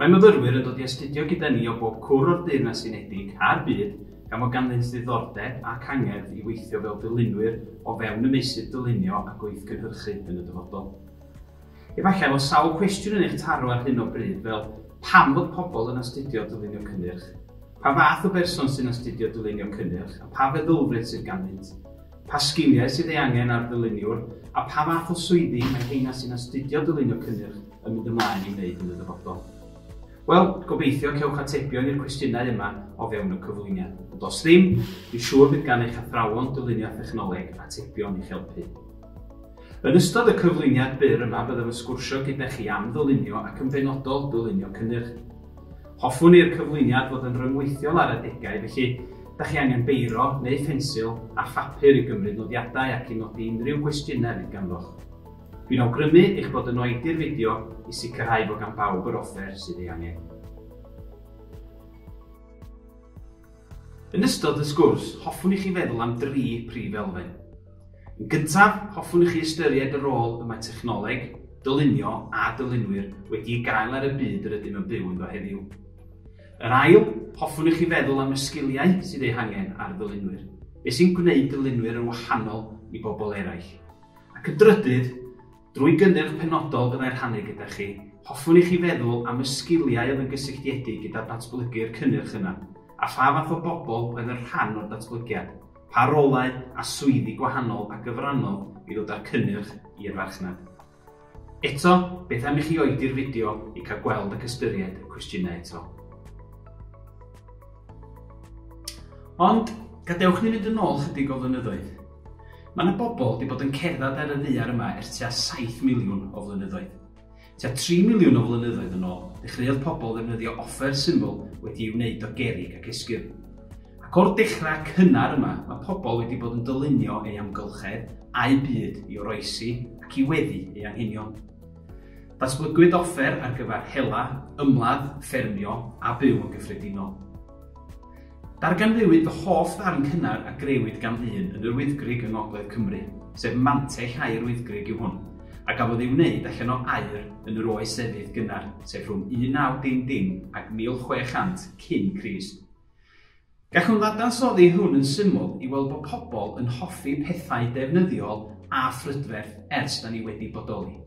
Mae myfyrwyr yn dod i astudio gyda ni o bob cwr o'r Deyrnas Unedig a'r byd gan fod ganddynt ddiddordeb ac angerdd i weithio fel dylunwyr o fewn y meysydd dylunio a gweithgynhyrchu yn y dyfodol. Efallai fod sawl cwestiwn yn eich taro ar hyn o bryd fel, pam fod pobl yn astudio dylunio cynnyrch? Pa fath o berson sy'n astudio dylunio cynnyrch a pha feddylfryd sydd ganddynt? Pa sgiliau sydd ei angen ar ddyluniwr a pha fath o swyddi mae heina sy'n astudio dylunio cynnyrch yn mynd ymlaen i wneud yn y dyfodol? Wel, gobeithio cewch atebion i'r cwestiynau yma o fewn y cyflwyniad. Ond os ddim, dwi'n siŵr bydd gan eich athrawon dylunio thechnoleg atebion i'ch helpu. Yn ystod y cyflwyniad byr yma byddaf yn sgwrsio gyda chi am ddylunio ac yn benodol dylunio cynnyrch. Hoffwn i'r cyflwyniad fod yn rhyngweithiol ar adegau, felly da chi angen beiro neu ffensil a phapur i gymryd nodiadau ac i nodi unrhyw gwestiynau fydd ganddoch. Dwi'n awgrymu eich bod yn oedi'r fideo i sicrhau bod gan bawb yr offer sydd ei angen. Yn ystod y sgwrs, hoffwn i chi feddwl am dri prif elfen. Yn gyntaf, hoffwn i chi ystyried y rôl y mae technoleg, dylunio a dylunwyr wedi'i gael ar y byd yr ydym yn byw ynddo heddiw. Yr ail, hoffwn i chi feddwl am y sgiliau sydd eu hangen ar ddylunwyr. Beth sy'n gwneud dylunwyr yn wahanol i bobl eraill? Ac yn drydydd, drwy gynnyrch penodol fyddai'n rhannu gyda chi, hoffwn i chi feddwl am y sgiliau oedd yn gysylltiedig gyda datblygu'r cynnyrch yna, a pha fath o bobl oedd yn rhan o'r datblygiad, pa rolau a swyddi gwahanol a gyfrannodd i ddod â'r cynnyrch i'r farchnad. Eto, beth am i chi oedi'r fideo i cael gweld ac ystyried y cwestiynau eto. Ond, gadewch ni fynd yn ôl chydig o flynyddoedd. Mae yna bobl wedi bod yn cerdded ar y ddaear yma ers tua 7 miliwn o flynyddoedd. Tua 3 miliwn o flynyddoedd yn ôl, dechreuodd pobl ddefnyddio offer syml wedi'i wneud o gerrig ac esgyrn. Ac o'r dechrau cynnar yma, mae pobl wedi bod yn dylunio ei amgylchedd a'u byd i oroesi ac i weddu ei anghenion. Datblygwyd offer ar gyfer hela, ymladd, ffermio a byw yn gyffredinol. Darganfuwyd fy hoff ddarn cynnar a grëwyd gan ddyn yn Yr Wyddgrug yng Ngogledd Cymru, sef Mantell Aur Wyddgrug yw hwn, a gafodd ei wneud allan o aur yn yr Oes Efydd gynnar, sef rhwng 1900 ac 1600 cyn Crist. Gallwn ddadansoddi hwn yn syml i weld bod pobl yn hoffi pethau defnyddiol a phrydferth ers da ni wedi bodoli,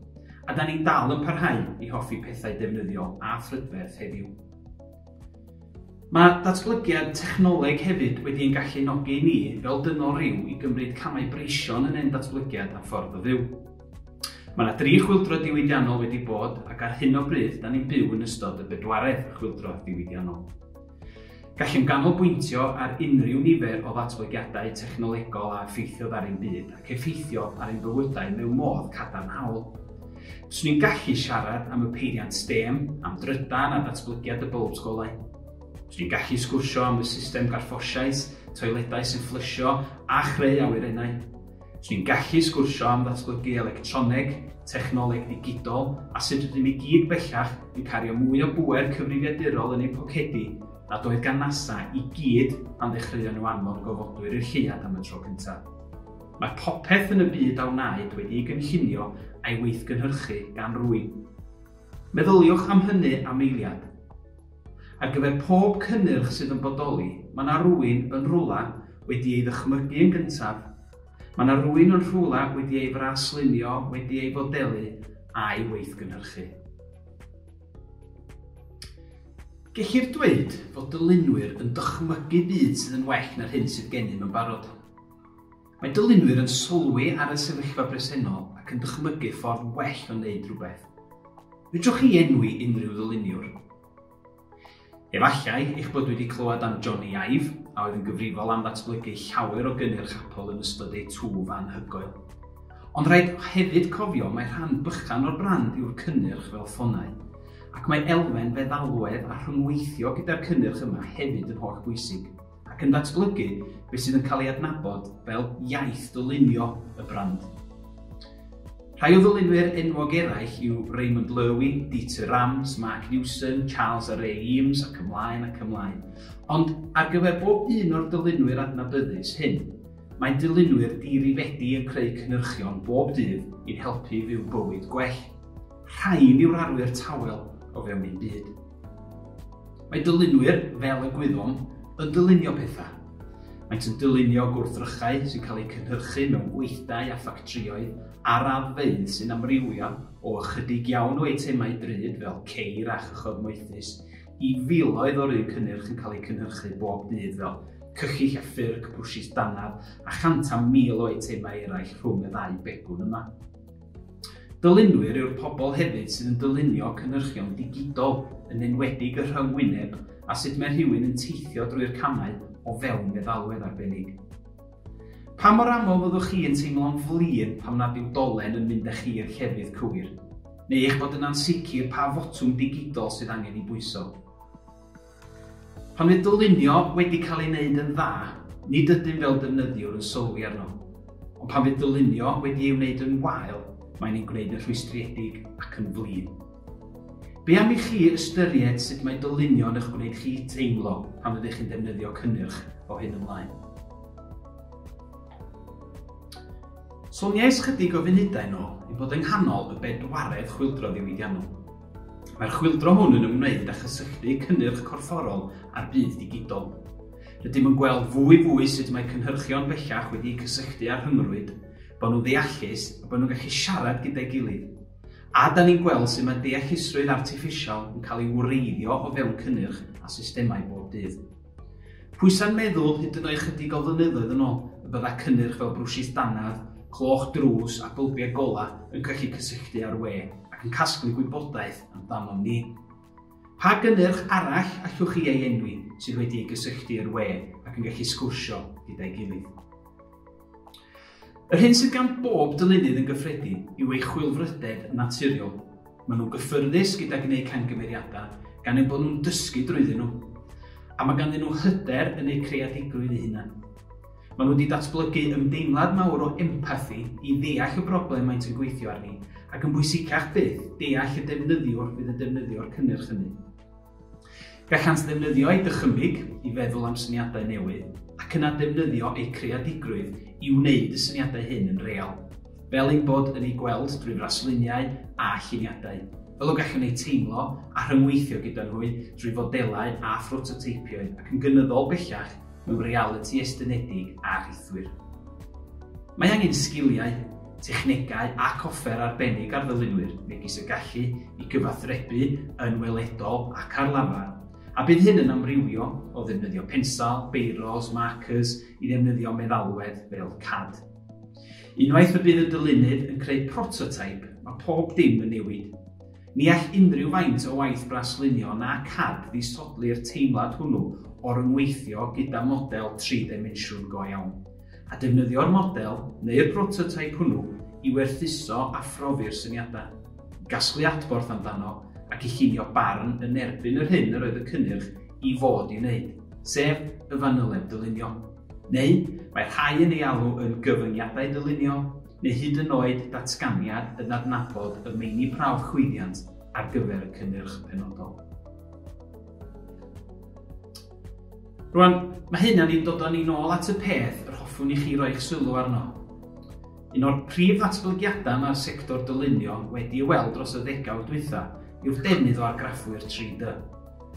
a da ni'n dal yn parhau i hoffi pethau defnyddiol a phrydferth heddiw. Mae datblygiad technoleg hefyd wedi ein gallu nogi ni fel dynol rhyw i gymryd camau breision yn ein datblygiad a ffordd o fyw. Mae yna dri chwyldro diwydiannol wedi bod ac ar hyn o bryd da ni'n byw yn ystod y bedwaredd chwyldro diwydiannol. Gallem ganolbwyntio ar unrhyw nifer o ddatblygiadau technolegol a effeithiodd ar ein byd ac effeithio ar ein bywydau mewn modd cadarnhaol. Swn i'n gallu siarad am y peiriant STEM, am drydan a datblygiad y bwlbs golau. Swn i'n gallu sgwrsio am y system garffosiais, toiledau sy'n fflysio a chreu awyrennau. Swn i'n gallu sgwrsio am ddatblygu electroneg, technoleg digidol a sut rydym i gyd bellach yn cario mwy o bŵer cyfrifiadurol yn ein pocedi nad oedd gan NASA i gyd pan ddechreuon nhw anfon gofodwyr i'r lleuad am y tro cyntaf. Mae popeth yn y byd a wnaed wedi'i gynllunio a'i weithgynhyrchu gan rywun. Meddyliwch am hynny am eiliad. Ar gyfer pob cynnyrch sydd yn bodoli, mae 'na rywun, yn rhywle, wedi ei ddychmygu yn gyntaf, mae 'na rywun yn rhywle wedi ei fraslunio, wedi ei fodelu, a'i weithgynhyrchu. Gellir dweud fod dylunwyr yn dychmygu byd sydd yn well na'r hyn sydd gennym yn barod. Mae dylunwyr yn sylwi ar y sefyllfa bresennol ac yn dychmygu ffordd well o wneud rhywbeth. Fedrwch chi enwi unrhyw ddyluniwr? Efallai eich bod wedi clywed am Johnny Ive, a oedd yn gyfrifol am ddatblygu llawer o gynnyrch Apple yn ystod eu twf anhygoel. Ond rhaid hefyd cofio mae rhan bychan o'r brand yw'r cynnyrch fel ffonau, ac mae elfen feddalwedd a rhyngweithio gyda'r cynnyrch yma hefyd yn holl bwysig. ac yn datblygu beth sydd yn cael ei adnabod fel iaith ddylunio y brand. Rhai o ddylunwyr enwog eraill yw Raymond Loewy, Dieter Rams, Mark Newson, Charles a Ray Eames ac ymlaen ac ymlaen. Ond ar gyfer bob un o'r dylunwyr adnabyddus hyn, mae dylunwyr dirifedi yn creu cynhyrchion bob dydd i'n helpu i fyw bywyd gwell. Rhain yw'r arwyr tawel o fewn ein byd. Mae dylunwyr, fel y gwyddom, yn dylunio pethau. Maent yn dylunio gwrthrychau sy'n cael eu cynhyrchu mewn gweithdai a ffactrïoedd a raddfeydd sy'n amrywio o ychydig iawn o eitemau drud fel ceir a chychod moethus i filoedd o'r un cynnyrch yn cael eu cynhyrchu bob dydd fel cychill a ffyrc, brwshys dannedd a chant a mil o eitemau eraill rhwng y ddau begwn yma. Dylunwyr yw'r pobl hefyd sydd yn dylunio cynhyrchion digidol, yn enwedig y rhyng-wyneb a sut mae rhywun yn teithio drwy'r camau o fewn meddalwedd arbennig. Pa mor aml fyddwch chi yn teimlo'n flin pam nad yw dolen yn mynd â chi i'r llefydd cywir? Neu eich bod yn ansicr pa fotwm digidol sydd angen ei bwyso? Pan fydd dylunio wedi cael ei wneud yn dda, nid ydym fel defnyddiwr yn sylwi arno. Ond pan fydd dylunio wedi ei wneud yn wael, mae'n ei gwneud yn rhwystredig ac yn flin. Be am i chi ystyried sut mae dylunio yn eich gwneud chi teimlo pan fyddech chi'n defnyddio cynnyrch o hyn ymlaen? Soniais chydig o funudau yn ôl ei bod yng nghanol y bedwaredd chwyldro ddiwydiannol. Mae'r chwyldro hwn yn ymwneud â chysylltu cynnyrch corfforol â'r byd digidol. Rydym yn gweld fwy fwy sut mae cynhyrchion bellach wedi'u cysylltu â'r rhyngrwyd, bod nhw'n ddeallus a bod nhw'n gallu siarad gyda'i gilydd. A da ni'n gweld sut mae deallusrwydd artiffisial yn cael ei wreiddio o fewn cynnyrch a systemau bob dydd. Pwysa'n meddwl hyd yn oed chydig o flynyddoedd yn ôl y bydda cynnyrch fel brwshys dannedd, cloch drws a bylbiau golau yn gallu cysylltu â'r we ac yn casglu gwybodaeth amdanom ni. Pa gynnyrch arall allwch chi ei enwi sydd wedi ei gysylltu i'r we ac yn gallu sgwrsio gyda'i gilydd? Yr hyn sydd gan bob dylunydd yn gyffredin yw ei chwilfrydedd naturiol. Maen nhw'n gyffyrddus gyda gwneud camgymeriadau gan eu bod nhw'n dysgu drwyddyn nhw, a mae ganddyn nhw hyder yn eu creadigrwydd eu hunain. Maen nhw wedi datblygu ymdeimlad mawr o empathi i ddeall y broblem maent yn gweithio arni, ac yn bwysicach fyth, deall y defnyddiwr fydd yn defnyddio'r cynnyrch hynny. Gallant ddefnyddio eu dychymyg i feddwl am syniadau newydd ac yna defnyddio eu creadigrwydd i wneud y syniadau hyn yn real, fel ein bod yn eu gweld drwy frasluniau a lluniadau, fel y gallwn eu teimlo a rhyngweithio gyda nhw drwy fodelau a phrototeipioedd ac yn gynyddol bellach mewn realiti estynedig a rhithwir. Mae angen sgiliau, technegau ac offer arbennig ar ddylunwyr, megis y gallu i gyfathrebu yn weledol ac ar lafar, a bydd hyn yn amrywio o ddefnyddio pensel, beirôs, markers i ddefnyddio meddalwedd fel cad. Unwaith y bydd y dylunydd yn creu prototeip, mae pob dim yn newid. Ni all unrhyw faint o waith braslunio na cad ddisodli'r teimlad hwnnw o ryngweithio gyda model tri-ddimensiwn go iawn. a defnyddio'r model neu'r brototeip hwnnw i werthuso a phrofi'r syniadau, i gasglu adborth amdano ac i llunio barn yn erbyn yr hyn yr oedd y cynnyrch i fod i wneud, sef y fanyleb dylunio. Neu, mae rhai yn ei alw yn gyfyngiadau dylunio, neu hyd yn oed datganiad yn adnabod y meini prawf chwyddiant ar gyfer y cynnyrch penodol. Rwan, mae hyn yn ni'n dod â ni'n ôl at y peth yr hoffwn i chi roi'ch sylw arno. Un o'r prif ddatblygiadau mae'r sector dylunio wedi ei weld dros y ddegawd dwytha yw'r defnydd o argraffwyr 3D,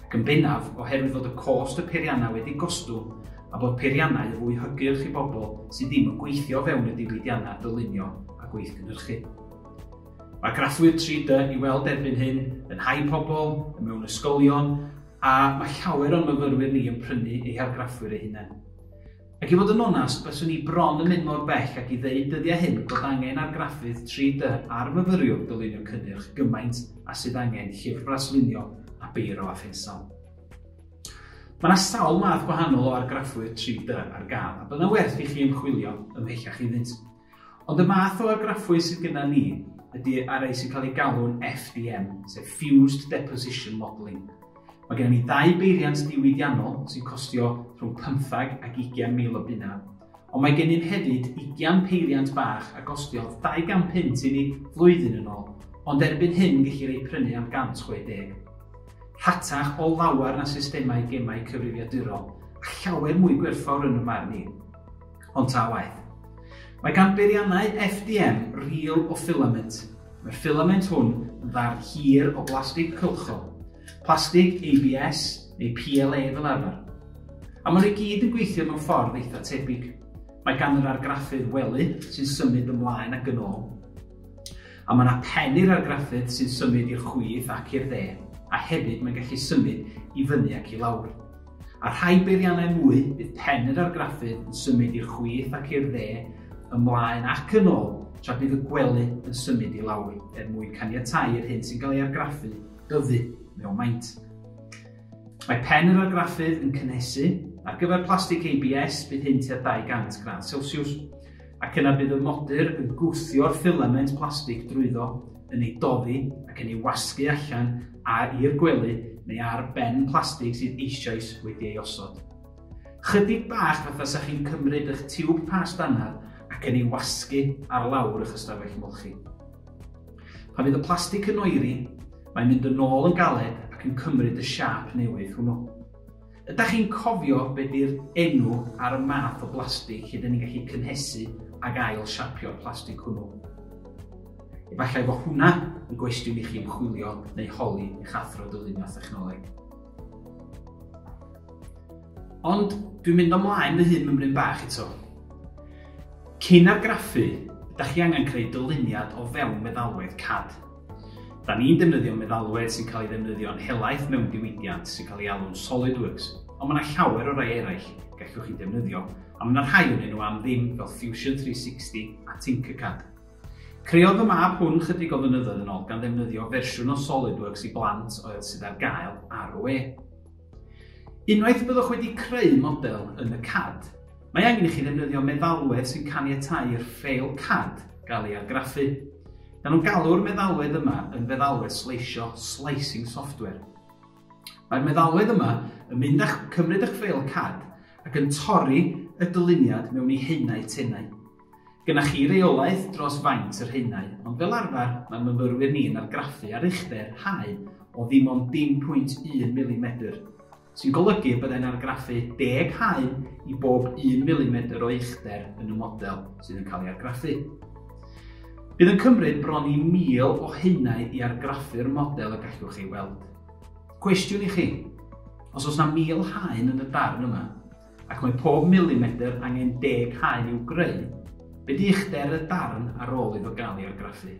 ac yn bennaf oherwydd fod y cost y peiriannau wedi gostwng a bod peiriannau yn fwy hygyrch i bobl sydd ddim yn gweithio fewn y diwydiannau dylunio a gweithgynhyrchu. Mae graffwyr 3D i weld erbyn hyn yn hau pobl, mewn ysgolion, A mae llawer o'n myfyrwyr ni yn prynu ei hargraffwyr eu hunain. Ac i fod yn onast, byswn i bron yn mynd mor bell ag i ddeud dyddiau hyn bod angen argraffydd 3D ar fyfyriwr dylunio cynnyrch gymaint a sydd angen llyfr braslunio a beiro a phensel. Mae yna sawl math gwahanol o argraffwyr 3D ar gael a byddai'n werth i chi ymchwilio ymhellach iddynt. Ond y math o argraffwyr sydd gyda ni ydy ar rai sy'n cael ei galw'n FDM, sef Fused Deposition Modelling. Mae gennym ni ddau beiriant diwydiannol sy'n costio rhwng 15 ac 20 mil o bunna, ond mae gennym hefyd 20 peiriant bach a gostiodd 200 punt i ni flwyddyn yn ôl, ond erbyn hyn gellir eu prynu am 160. Rhatach o lawer na systemau gemau cyfrifiadurol, a llawer mwy gwerthfawr yn y marn i. Ond ta waeth. Mae gan beiriannau FDM ril o ffilament. Mae'r ffilament hwn yn ddarn hir o blastig cylchol, plastig ABS neu PLA fel arfer. A maen nhw i gyd yn gweithio mewn ffordd eitha tebyg. Mae gan yr argraffydd wely sy'n symud ymlaen ac yn ôl. A mae yna pen i'r argraffydd sy'n symud i'r chwith ac i'r dde, a hefyd mae'n gallu symud i fyny ac i lawr. Ar rhai beiriannau mwy, bydd pen yr argraffydd yn symud i'r chwith ac i'r dde, ymlaen ac yn ôl, tra bydd y gwely yn symud i lawr, er mwyn caniatáu i'r hyn sy'n cael ei argraffu dyfu mewn maint. Mae pen yr argraffydd yn cynhesu. Ar gyfer plastig ABS, bydd hyn tua 200 gradd Celsius. Ac yna bydd y modur yn gwthio'r ffilament plastig drwyddo, yn ei doddi ac yn ei wasgu allan a i'r gwely neu ar ben plastig sydd eisoes wedi ei osod. Chydig bach fatha sa chi'n cymryd ych tiwb past anaf ac yn ei wasgu ar lawr ych ystafell molchi. Pan fydd y plastig yn oeri, mae'n mynd yn ôl yn galed ac yn cymryd y siâp newydd hwnnw. Ydach chi'n cofio be di'r enw ar y math o blastig lle dyn ni'n gallu cynhesu ag ail siapio'r plastig hwnnw? Efallai fo hwnna yn gwestiwn i chi ymchwilio neu holi eich athro dylunio thechnoleg. Ond dwi'n mynd ymlaen fy hun mymryn bach eto. Cyn argraffu, ydych chi angen creu dyluniad o fewn meddalwedd CAD. Da ni'n defnyddio meddalwedd sy'n cael ei ddefnyddio'n helaeth mewn diwydiant sy'n cael ei alw'n SolidWorks, ond mae yna llawer o rai eraill gallwch chi ddefnyddio, a mae yna rhai ohonyn nhw am ddim fel Fusion 360 a Tinkercad. Creodd fy mab hwn chydig o flynyddoedd yn ôl gan ddefnyddio fersiwn o SolidWorks i blant oedd sydd ar gael ar y we. Unwaith y byddwch wedi creu model yn y CAD, mae angen i chi ddefnyddio meddalwedd sy'n caniatáu i'r ffeil CAD gael ei argraffu. Maen nhw'n galw'r meddalwedd yma yn feddalwedd sleisio, slicing software. Mae'r meddalwedd yma yn mynd â'ch cymryd eich ffeil CAD ac yn torri y dyluniad mewn i haenau tenau. Gennych chi reolaeth dros faint yr haenau, ond fel arfer mae myfyrwyr ni'n argraffu ar uchder haen o ddim ond 0.1 milimedr, sy'n golygu y byddai'n argraffu deg haen i bob un milimedr o uchder yn y model sydd yn cael ei argraffu. Bydd yn cymryd bron i 1,000 o haenau i argraffu'r model y gallwch ei weld. Cwestiwn i chi, os oes na 1,000 haen yn y darn yma, Ac mae pob milimedr angen deg haen i'w greu. Be di uchder y darn ar ôl iddo gael ei argraffu?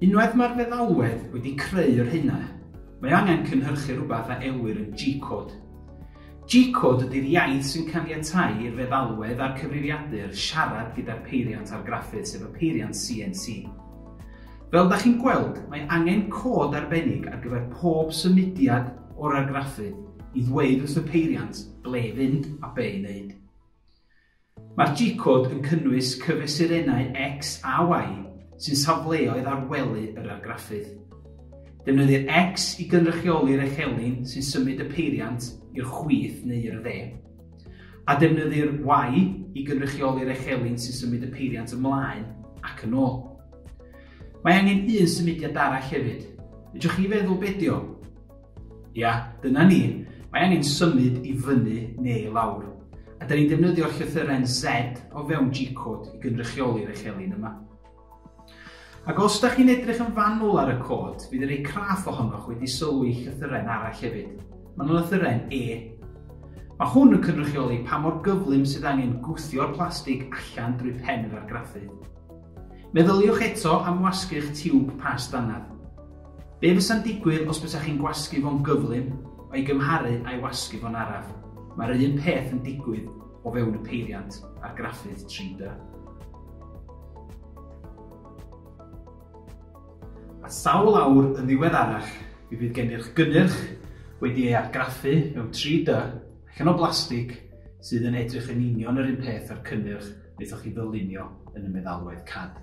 Unwaith mae'r feddalwedd wedi creu yr haenau, mae angen cynhyrchu rhywbeth a elwir yn G-cod. G-cod ydy'r iaith sy'n caniatáu i'r feddalwedd a'r cyfrifiadur siarad gyda'r peiriant argraffu, sef y peiriant CNC. Fel da chi'n gweld, mae angen cod arbennig ar gyfer pob symudiad o'r argraffu i ddweud wrth y peiriant ble i fynd a be i wneud. Mae'r G-cod yn cynnwys cyfesurennau X a Y sy'n safleoedd ar wely yr argraffydd. Defnyddir X i gynrychioli'r echelin sy'n symud y peiriant i'r chwith neu i'r dde, a defnyddir Y i gynrychioli'r echelin sy'n symud y peiriant ymlaen ac yn ôl. Mae angen un symudiad arall hefyd. Fedrwch chi feddwl be dio? Ia, dyna ni. Mae angen symud i fyny neu i lawr. A da ni'n defnyddio'r llythyren Z o fewn G-code i gynrychioli'r echelin yma. Ac os da chi'n edrych yn fanwl ar y cod, bydd yr ei craff ohonoch wedi sylwi llythyren arall hefyd. Mae yna llythyren E. Mae hwn yn cynrychioli pa mor gyflym sydd angen gwthio'r plastig allan drwy pen yr argraffu. Meddyliwch eto am wasgu'ch tiwb past anaf. Be fysa'n digwydd os bysach chi'n gwasgu fo'n gyflym o'i gymharu â'i wasgu fo'n araf? Mae'r un peth yn digwydd o fewn y peiriant a'r graffydd 3D. A sawl awr yn ddiweddarach mi fydd gennych gynnyrch wedi ei argraffu mewn 3D allan o blastig sydd yn edrych yn union yr un peth â'r cynnyrch beth o'ch chi ddylunio yn y meddalwedd CAD.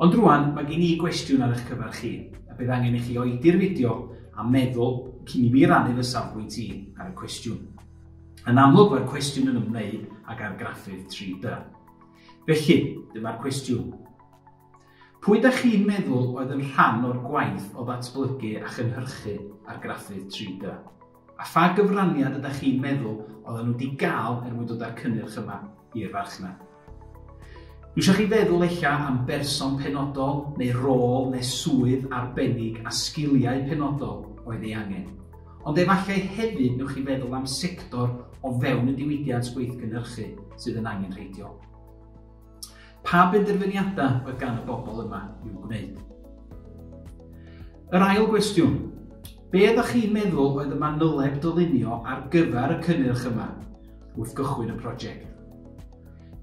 Ond rwan, mae gen i gwestiwn ar eich cyfer chi, a bydd angen i chi oedi'r fideo a meddwl cyn i mi rannu fy safbwynt i ar y cwestiwn. Yn amlwg mae'r cwestiwn yn ymwneud ag argraffydd 3D. Felly, dyma'r cwestiwn. Pwy da chi'n meddwl oedd yn rhan o'r gwaith o ddatblygu a chynhyrchu argraffydd 3D? A pha gyfraniad ydach chi'n meddwl oedden nhw wedi gael er mwyn dod â'r cynnyrch yma i'r farchnad? Dwi eisiau chi feddwl ella am berson penodol neu rôl neu swydd arbennig a sgiliau penodol oedd ei angen. Ond efallai hefyd newch chi feddwl am sector o fewn y diwydiant gweithgynhyrchu sydd yn angenrheidiol. Pa benderfyniadau oedd gan y bobl yma i'w gwneud? Yr ail gwestiwn, be ydych chi'n meddwl oedd y manyleb dylunio ar gyfer y cynnyrch yma wrth gychwyn y prosiect?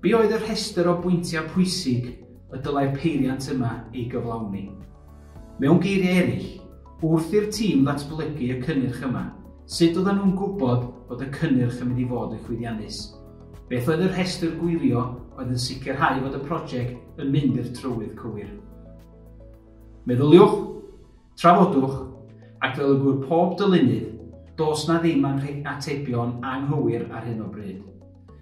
Be oedd y rhestr o bwyntiau pwysig y dylai'r peiriant yma ei gyflawni? Mewn geiriau eraill, wrth i'r tîm ddatblygu y cynnyrch yma, sut oedden nhw'n gwybod bod y cynnyrch yn mynd i fod yn chwyddiannus? Beth oedd y rhestr gwirio oedd yn sicrhau fod y prosiect yn mynd i'r trywydd cywir? Meddyliwch, trafodwch, ac fel y gŵyr pob dylunydd, dos na ddim anrheg atebion anghywir ar hyn o bryd.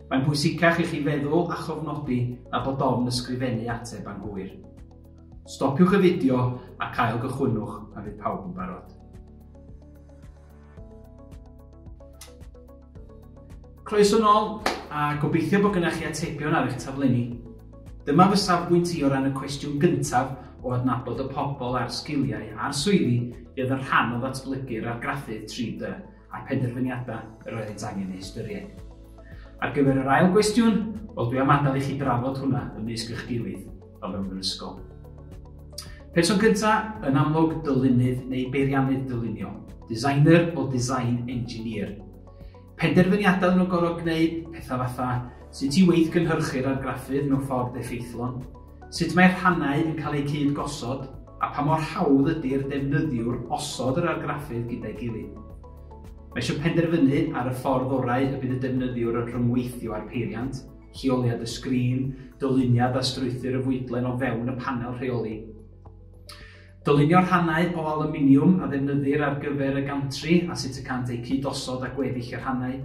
Mae'n bwysicach i chi feddwl a chofnodi na bod ofn ysgrifennu ateb anghywir. Stopiwch y fideo ac ail gychwynnwch pan fydd pawb yn barod. Croeso nôl, a gobeithio bod gynnech chi atebion ar eich taflenni. Dyma fy safbwynt i o ran y cwestiwn gyntaf o adnabod y pobl a'r sgiliau a'r swyddi i oedd yn rhan o ddatblygu'r argraffydd 3D a'r penderfyniadau yr oeddynt angen eu hystyried. Ar gyfer yr ail gwestiwn, wel dwi am adael i chi drafod hwnna ymysg eich gilydd. o fewn yr ysgol. Person gyntaf, yn amlwg dylunydd neu beiriannydd dylunio, designer o design engineer. Penderfyniadau nhw gorfod gwneud pethau fatha sut i weith gynhyrchu'r argraffydd mewn ffordd effeithlon, sut mae'r rhannau yn cael eu cyd gosod a pa mor hawdd ydy'r defnyddiwr osod yr argraffydd gyda'i gilydd. Mae eisiau penderfynu ar y ffordd orau y bydd y defnyddiwr yn rhyngweithio â'r peiriant, lleoliad y sgrin, dyluniad a strwythur y fwydlen o fewn y panel rheoli. Dylunio rhannau o aluminiwm a ddefnyddir ar gyfer y gantri a sut y cant eu cyd-osod a gweddill y rhannau.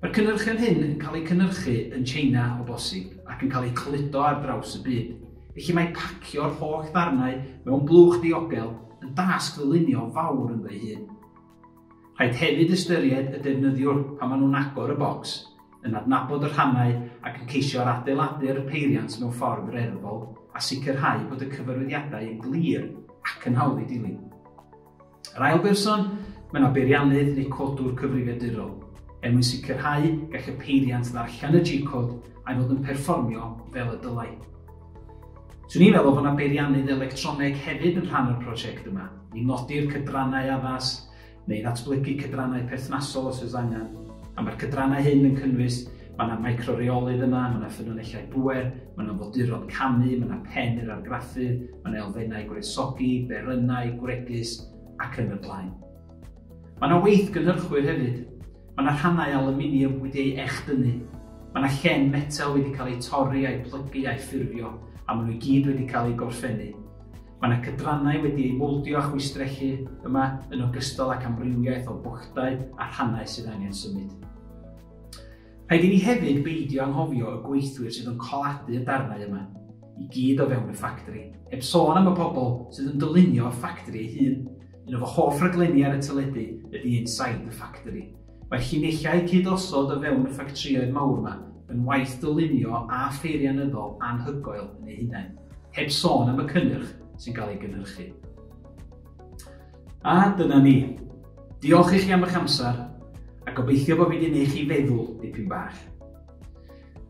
Mae'r cynnyrchion hyn yn cael eu cynnyrchu yn China o bosib ac yn cael eu cludo ar draws y byd, felly mae pacio'r holl ddarnau mewn blwch diogel yn dasg ddylunio fawr ynddo'i hun. Rhaid hefyd ystyried y defnyddiwr pan maen nhw'n agor y bocs, yn adnabod y rhannau ac yn ceisio ar adeiladu'r peiriant mewn ffordd reddfol a sicrhau bod y cyfarwyddiadau yn glir ac yn hawdd eu dilyn. Yr ail berson, mae yna beiriannydd neu codwr cyfrifiadurol, er mwyn sicrhau gall y peiriant ddarllen y G-cod a'i fod yn perfformio fel y dylai. Swn i'n meddwl bod yna beiriannydd electroneg hefyd yn rhan o'r prosiect yma, i nodi'r cydrannau addas, neu ddatblygu cydrannau perthnasol os oes angen, a mae'r cydrannau hyn yn cynnwys, mae yna micro-reolydd yna, mae yna ffynonellau bŵer, mae yna foduron camu, mae yna pen i'r argraffu, mae yna elfennau gwresogi, berynau, gwregys, ac yn y blaen. Mae yna weithgynhyrchwyr hefyd, Mae yna rhannau alwminiwm wedi ei echdynnu, mae yna llen metel wedi cael eu torri a'u plygu a'u ffurfio a maen nhw i gyd wedi cael eu gorffennu. Mae yna cydrannau wedi eu mowldio a chwistrellu yma yn ogystal ac amrywiaeth o bwchdau a rhannau sydd angen symud. Rhaid i ni hefyd beidio anghofio y gweithwyr sydd yn coladu y darnau yma i gyd o fewn y ffactri, heb sôn am y pobl sydd yn dylunio'r ffactri ei hun. Un o fy hoff raglenni ar y teledu ydy Inside the Factory. Mae llinellau cyd-osod o fewn y ffactrïoedd mawr yma yn waith dylunio a pheirianyddol anhygoel yn eu hunain, heb sôn am y cynnyrch sy'n cael ei gynhyrchu. A dyna ni. Diolch i chi am eich amser, a gobeithio bod fi wedi gwneud chi feddwl dipyn bach.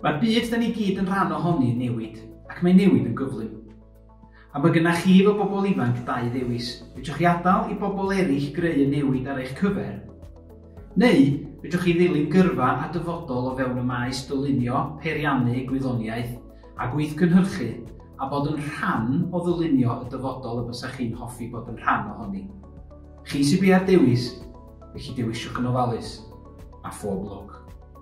Mae'r byd da ni gyd yn rhan ohoni yn newid, ac mae newid yn gyflym. A mae gennych chi fel bobl ifanc dau ddewis, fedrwch chi adael i bobl eraill greu y newid ar eich cyfer, neu fedrwch chi ddilyn gyrfa a dyfodol o fewn y maes dylunio, peiriannu, gwyddoniaeth a gweithgynhyrchu, a bod yn rhan o ddylunio y dyfodol y bysach chi'n hoffi bod yn rhan ohoni. Chi sydd biau'r dewis, felly dewisiwch yn ofalus, a phob lwc!